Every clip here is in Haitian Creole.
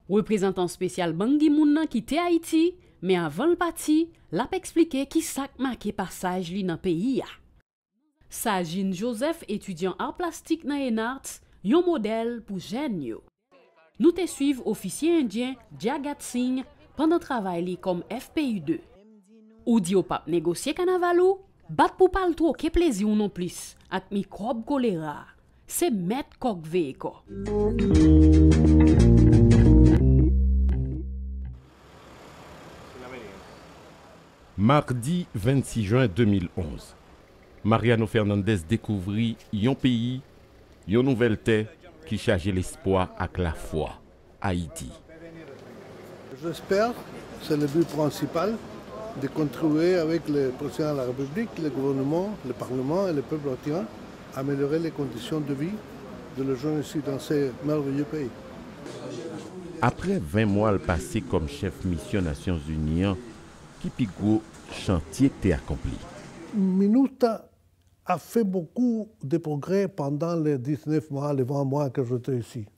Reprezantan spesyal Ban Ki Moon nan kite Ayiti, men avan l pati, l ap eksplike ki sa k make pasaj li nan peyi a. Sajin Joseph etidyan Ar Plastik nan ENARTS, yon modèl pou jèn yo. Nou te swiv ofisye endyen Jagat Singh pandan travay li kòm FPU 2. Ou di w pap negosye kanaval ou, bat pou pa l twoke plezi w non plis ak mikwòb kolera a, Se mèt kò k veye kò. Mardi 26 jen 2011, Mariano Fernandez dekouvri yon peyi, yon nouvèl tè ki chaje lespwa ak lafwa. Ayiti. Aprè 20 mwa l pase kòm chèf misyon Nasyonzini an, ki pi gwo chantye k te akonpli? Minustah a fait beaucoup de progrès pendant les 19 mois, les 20 mois que j'étais ici.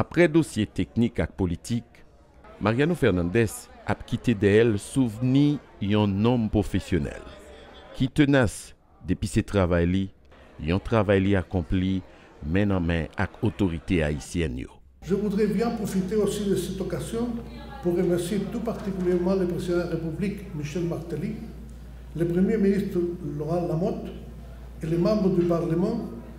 Aprè dosye teknik ak politik, Mariano Fernandez ap kite dèyè l souvni yon nonm pwofesyonèl, ki tenas depi se travay li, yon travay li akonpli men nan men ak otorite ayisyèn yo. Je voudrais bien profiter aussi de cette occasion pour remercier tout particulièrement le Président de la République, Michel Martelly, le Premier ministre Laurent Lamothe et les membres du Parlement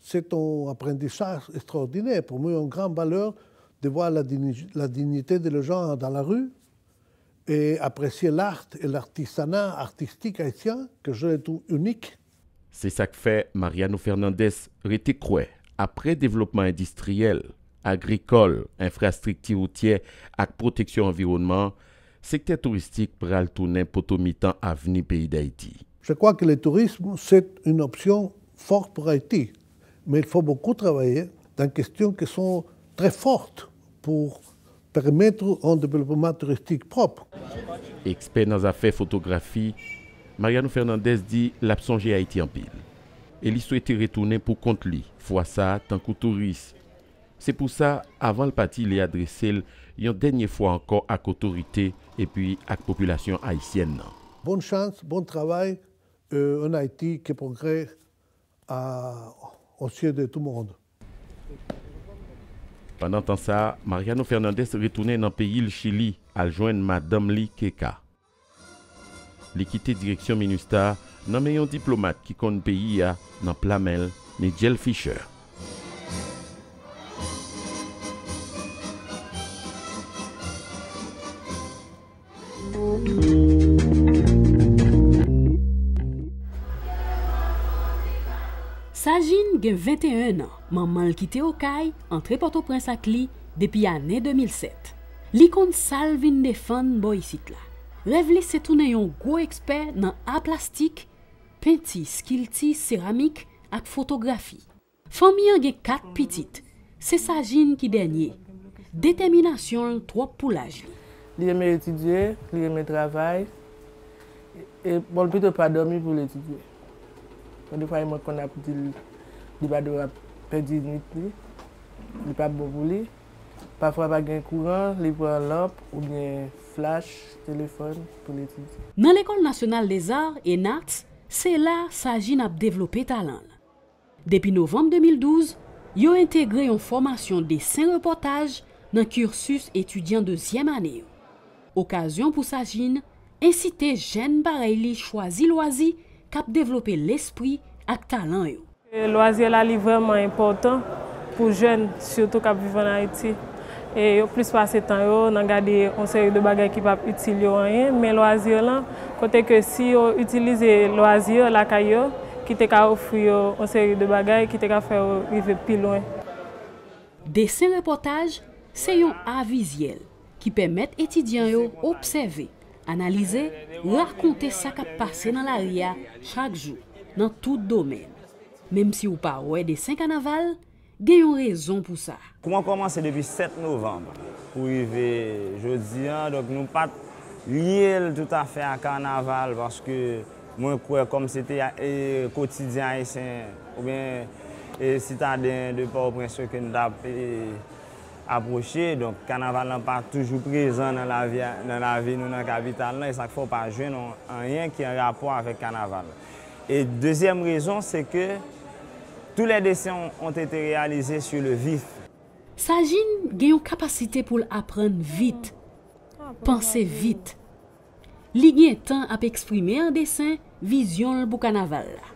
Se t on aprendisaj estraòdinè pou mwen, yon gran valeur de voir la dignité de le genre dans la rue et apprécier l'art et l'artisanat artistique haïtien que je le trouve unique. Se sa k fè Mariano Fernandez rete kwè aprè devlopman endistriyèl, agrikòl, enfrastrikti woutyè ak pwoteksyon anviwònman, sektè touristik pral tounen poto mitan avni peyi Dayiti. Je crois que le tourisme c'est une option Fort pour Haiti, men il faut beaucoup travailler dans question qui sont très fortes pour permettre un développement touristique propre. Ekspè nan zafè fotografi, Mariano Fernandez di l ap sonje Ayiti anpil e li swete retounen pou kont li, fwa sa a tankou touris. Se pou sa, avan l pati li adrese l yon dènye fwa ankò ak otorite epi ak popilasyon ayisyèn nan. Bon chans, bon travay, Euh en Haïti que progrès a aux yeux de tout monde. Pandan tan sa, Mariano Fernandez retounen nan peyi l Chili al jwenn madanm li Keka. Li kite direksyon Minustah nan men yon diplomat ki konn peyi a nan pla men l, Nigel Fischer. Sajin gen 21 an, manman l kite Okay antre Pòtoprens ak li depi ane 2007. Li konn sa l vin defann bò isit la. Rèv li se tounen yon gwo ekspè nan a plastik, penti, skilti, seramik ak fotografi. Fanmi an gen 4 pitit, se Sajin ki dènye. Detèminasyon l twòp pou laj li. Li renmen etidye, li renmen travay. E bon l pito pa dòmi pou l etidye. Gen defwa mwen konn ap di l li pa dwe ap pèdi nuit li, li pa bon pou li. Pafwa pa gen kouran, li pran lanp oubyen flach, telefòn pou l etidye. Nan Lekòl Nasyonal Lezar, ENAT, se la Sajin ap devlope talan l. Depi novanm 2012, yo entegre yon fòmasyon desen repòtaj nan cursus etidyan dezyèm ane yo. Okazyon pou Sajin ensite jèn parèy li chwazi lwazi k ap devlope lespri ak talan yo. Lwazi la li vrèman enpòtan pou jèn, sitou k ap viv ann Ayiti. e yo plis pase tan yo nan gade yon seri de bagay ki pap itil yo anyen, men lwazi yo lan, kote ke si yo itilize lwazi yo lakay yo, ki te ka ofri yo yon seri de bagay ki te ka fè yo rive pi lwen. Desen repòtaj se yon a vizyèl ki pèmèt etidyan yo obsève, analize, rakonte sa k ap pase nan lari a chak jou, nan tout domèn. Menm si ou pa wè desen kanaval, Gen yon rezon pou sa. Kou an kòmanse depi 7 novanm pou rive jodi an, donk nou pa t lye l toutafè a kanaval paske mwen kwè kòm se te kotidyen Ayisyen oubyen sitaden de Pòtoprens yo ke n t ap apwoche, donk kanaval lan pa toujou prezan nan lavi nou nan kapital lan, e sa k fè w pa jwenn anyen ki an rapò avèk kanaval. E dezyèm rezon se ke tou lè desen ont ete reyalize su le vif. Sajin gen yon kapasite pou l aprann vit, panse vit. Li gen tan ap eksprime an desen vizyon l pou kanaval la.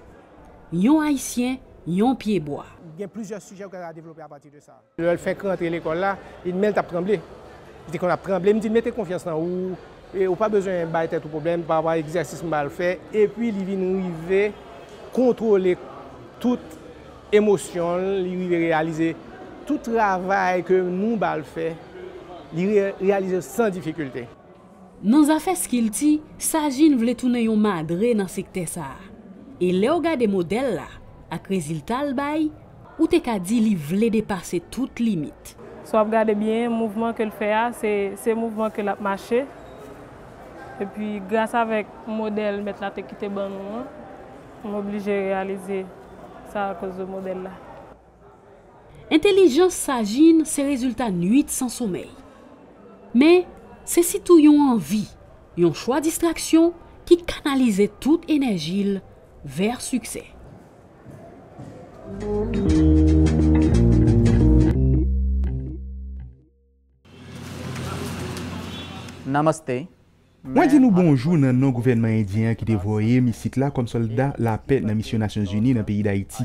Yon Ayisyen, yon pyebwa. Gen plizyè sijè ou ka develope apati de sa. Lè l fèk rantre lekòl la, li di men l t ap tranble. Li te konn ap tranble. M di l mete konfyans nan ou, e ou pa bezwen bay tèt ou pwoblèm pa rapò a egzèsis m ba l fè. Epi li vin rive kontwole tout emosyon l, li rive reyalize tout travay ke nou ba l fè, li reyalize l san difikilte. Nan zafè skilti, Sajin vle tounen yon madre nan sektè sa a. E lè w gade modèl la, ak rezilta l bay, ou te ka di li vle depase tout limit. Si w ap gade byen, mouvman ke l fè a, se mouvman ke l ap mache. Epi, gras avèk modèl mèt la te kite ban nou an, m oblije reyalize sa akoz de modèl la. Entelijans sa jinn se rezilta nuit san somèy. Men, se sitou yon anvi, yon chwa distraksyon ki kanalize tout enèji l vè siksè. Namaste. Mwen di nou bonjou nan non gouvènman endyen an ki te voye m isit la kòm sòlda lapè nan Misyon Nasyonzini nan peyi Dayiti.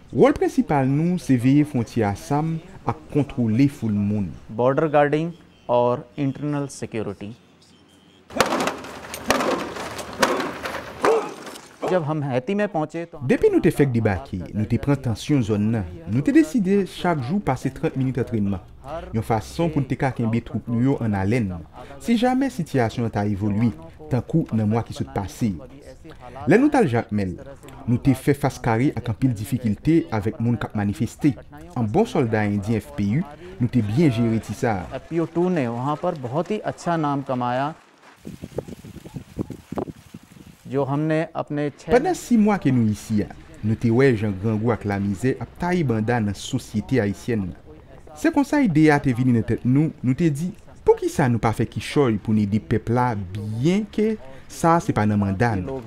Wòl prensipal nou se veye fwontyè a sam ak kontwole foul moun. Border guarding or internal security Jab hum Haiti mein pahunche to hum Depi nou te fèk debake, nou te pran tansyon zòn nan. Nou te deside chak jou pase 30 minit antrenman, yon fason pou n te ka kenbe twoup nou yo an alèn, si jamè sitiyasyon an ta evolye, tankou nan mwa ki sot pase yo. Lè nou t al Jakmèl, nou te fè fas kare ak anpil difikilte avèk moun k ap manifeste. An bon sòlda endyen FPU, nou te byen jere ti sa a. Pandan si mwa ke nou isi a, nou te wè jan grangou ak lamizè ap taye banda nan sosyete ayisyèn nan. Se konsa ide a te vini nan tèt nou, nou te di, Poukisa nou pa fè kichòy pou n ede pèp la byen ke sa a se pa nan manda nou.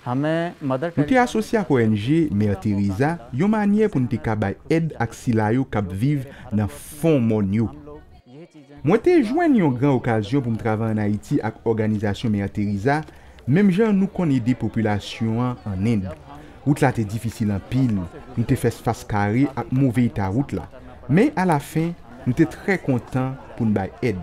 Nou te asosye ak ong Mère Teresa yon manyè pou n te ka bay èd ak sila yo k ap viv nan fon mòn yo. Mwen te jwenn yon gran okazyon pou m travay ann Ayiti ak òganizasyon Mère Teresa, menm jan nou konn ede popilasyon an ann End. Wout la te difisil anpil, nou te fès fas kare ak move eta wout la, men alafen, nou te trè kontan pou n bay èd.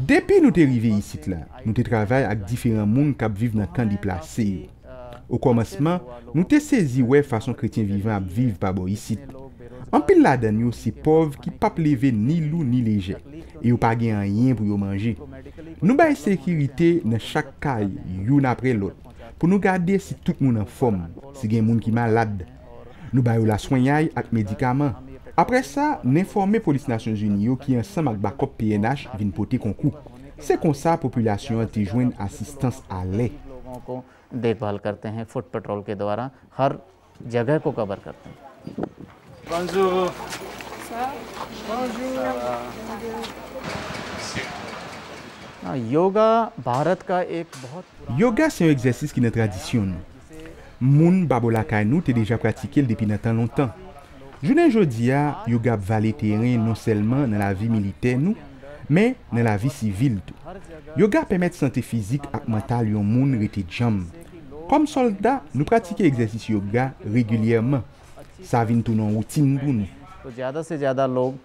Depi nou te rive isit la, nou te travay ak diferan moun k ap viv nan kan deplase yo. Okòmansman, nou te sezi wè fason kretyen vivan ap viv pa bò isit. Anpil ladan n yo se pòv ki pap leve ni lou ni lejè, e yo pa gen anyen pou yo manje. Nou bay sekirite nan chak kay youn apre lòt pou nou gade si tout moun anfòm, si gen moun ki malad, Nou ba yo laswenyay ak medikaman. Apre sa, n enfòme polis Nasyonzini yo ki ansanm ak bakòp pnh vin pote konkou. Se konsa popilasyon an te jwenn asistans a lè. Yoga se yon egzèsis ki nan tradisyon nou. Moun Babo lakay nou te deja pratike l depi nan tan lontan. Jounen jodi a, yoga ap vale teren non sèlman nan lavi militè nou, men nan lavi sivil tou. Yoga pèmèt sante fizik ak mantal yon moun rete djanm. Kòm sòlda, nou pratike egzèsis yoga regilyèman. Sa vin tounen yon woutin pou nou.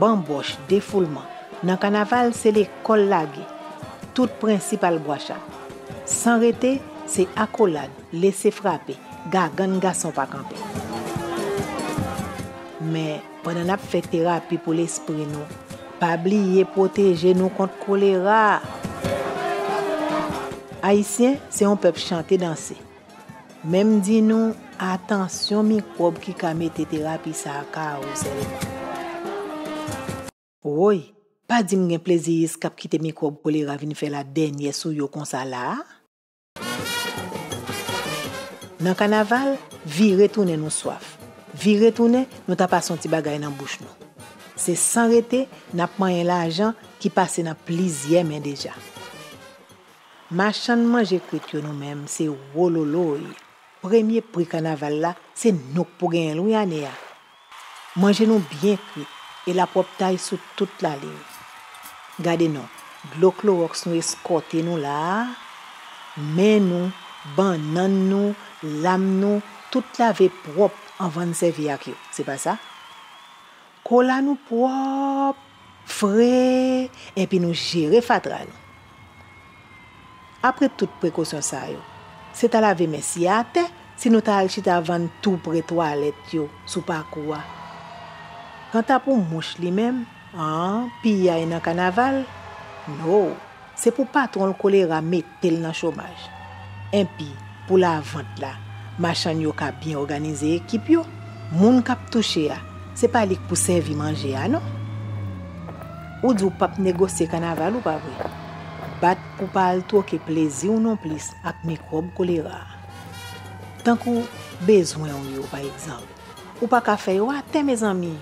Banbòch, defoulman. Nan kanaval se lekòl lage, tout prensip al bwa chat. San rete, se akolad, lese frape, gagann gason pa kanpe. Men, pandan n ap fè terapi pou lespri nou, pa bliye pwoteje nou kont kolera! Ayisyen se yon pèp chante danse. Men m di nou, atansyon mikwòb ki ka mete terapi sa a ka ou sèlman. Woy! Pa di m gen pleziyis k ap kite mikwòb kolera vin fè ladènyè sou yo konsa la a? Nan kanaval, vire tounen nou swaf. Vire tounen, nou ta pase yon ti bagay nan bouch nou. Se san rete, n ap manyen lajan ki pase nan plizyè men deja. Machann manje kwit yo nou menm se wololoy premye pri kanaval la se nou k pou genyen l wi ane a manje nou byen kwit e lapwòptay sou tout laliy gade non dlo kloròks nou eskòte nou la a men nou bannann nou lam nou tout lave pwòp anvan n sèvi ak yo se pa sa Kola nou pwòp, fre, enpi nou jere fatra nou. Apre tout prekosyon sa yo, se ta lave men siye atè si nou ta al chita vann tou pre twalèt yo sou pakou a. Kanta pou mouch li menm, an, piyay nan kanaval? No! Se pou patwon l kolera mete l nan chomaj. Enpi, pou lavant la, machann yo ka byen òganize ekip yo, moun k ap touche a, se pa li k pou sèvi manje a non. Ou di w pap negosye kanaval ou, pa vre? Bat pou pa al twoke plezi w nonplis ak mikwòb kolera a. Tankou bezwen w yo, pa egzanp, ou pa ka fè yo atè, mezanmi!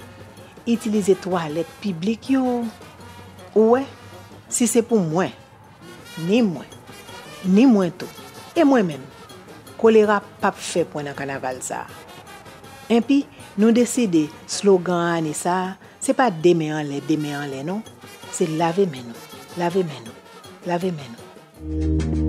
Itilize twalèt piblik yo, ou wè, Si se pou mwen, ni mwen, ni mwen tou, e mwen menm, kolera pap fè pwen nan kanaval sa a. Enpi, nou deside slogan ane sa a, se pa 2 men anlè, 2 men anlè non, se lave men nou, lave men nou, lave men nou.